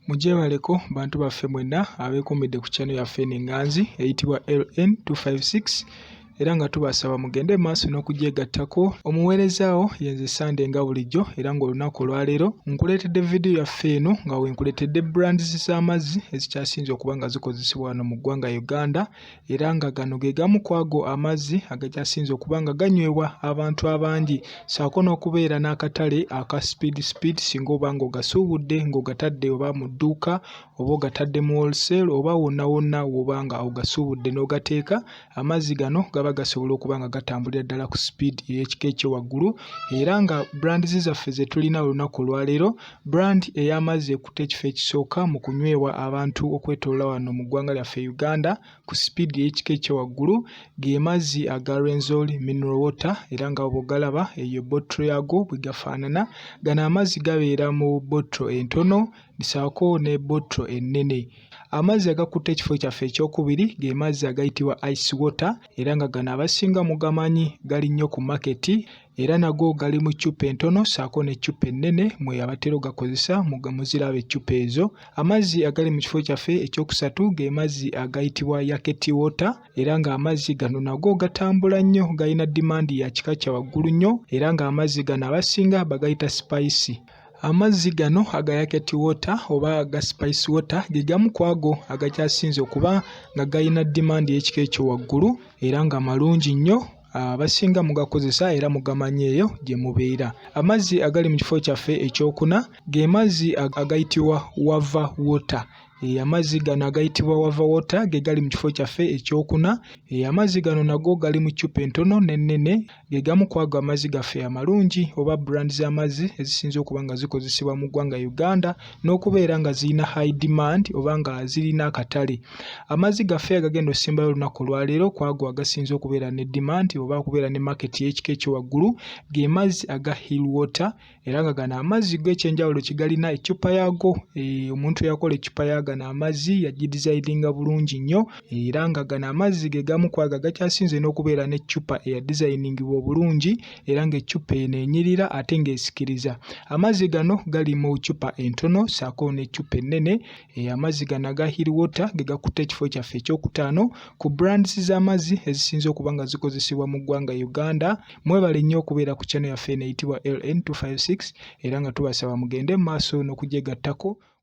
Mugyebaleko bantu baffe mwenna abeekuumidde ku channel yaffe eno enganzi eyitibwa LN 256 era nga tubasaba mugende mu maaso n'okugyegattako omuweerezaawo yenze sande nga bulijjo era ng'olunaku olwaleero nkuleetedde vidiyo yaffe eno nga wenkuleetedde brands z'amazzi ezikyasinze okuba nga zikozesebwa wano mu ggwanga uganda era nga gano ge gamu ku ago amazzi agakyasinze okuba nga ganywebwa abantu abangi saako n'okubeera n'akatale aka speed speed singa oba nga ogasuubudde ng'ogatadde oba mu dduuka oba ogatadde mu wholesel oba wonna wonna woba nga ogasuubudde n'ogateeka amazzi gano gaba gasobola okuba nga gatambulira ddala ku speed ey'ekika ekyo waggulu era nga brands zaffe ze tulina olunaku olwaleero Brand eyamazze ekutte ekifo ekisooka mu kunyweebwa abantu okwetolola wano mu ggwanga lyaffe Uganda ku speed ey'ekika ekyewaggulu ge mazzi aga Rwenzori mineral water era nga bwogalaba eyo bottle yago bwegafaanana gano amazzi gabeera mu bottle entono saako ne bottle ennene amazzi agakutte ekifo kyaffe ekyokubiri ge mazzi agayitibwa ice water era nga gano abasinga mugamanyi gali nnyo ku maketi era nago gali mu ccupa entono ssaako n'eccupa ennene mwe abatera ogakozesa muziraba eccupa ezo amazzi agali mu kifo kyaffe ekyokusatu ge mazzi agayitibwa yaketi wota era ng'amazzi gano nago gatambula nnyo galina dimandi ya kika kya waggulu nnyo era ng'amazzi gano abasinga bagayita sipayisi Amazzi gano aga yaketi wota oba aga spice wota ge gamu ku ago agakyasinze okuba nga galina dimandi y'ekika ekyo waggulu era nga malungi nnyo abasinga mugakozesa era mugamanyi eyo gye mubeera. Amazzi agali mu kifo kyaffe ekyokuna ge mazzi agayitibwa wava wota. Eh, amazzi gano agayitibwa wava wota ge gali mu kifo kyaffe ekyokuna. Eh, amazzi gano nago gali mu ccupa entono n'ennene ge gamu ku ago amazzi gaffe amalungi oba brand z'amazzi ezisinze okuba nga zikozesebwa mu ggwanga Uganda n'okubeera nga zirina high demand oba nga zirina akatale. Amazzi gaffe agagenda okusimbayo olunaku olwaleero kwago agasinze okubeera ne demand oba okubeera ne market y'ekika ekyowaggulu ge mazzi aga hill water era nga gano amazzi go ekyenjawulo kigalina eccupa yaago eh, omuntu eyakola eccupa ya gano amazzi yagidizayidinga bulungi nnyo era nga gano amazzi ge gamu kwago agakyasinze n'okubeera n'eccupa eyadizayiningibwa obulungi era ng'eccupa eno enyirira ate ng'esikiriza. Amazzi gano gali mu ccupa entono ssaako n'eccupa ennene. Eh, amazzi gano aga Hill Water ge gakutte ekifo kyaffe ekyokutaano ku brands z'amazzi ezisinze okuba nga zikozesebwa mu ggwanga Uganda. Mwebale nnyo okubeera ku channel yaffe eno eyitibwa LN256 era nga tubasaba mugende mu maaso n'okugyegattako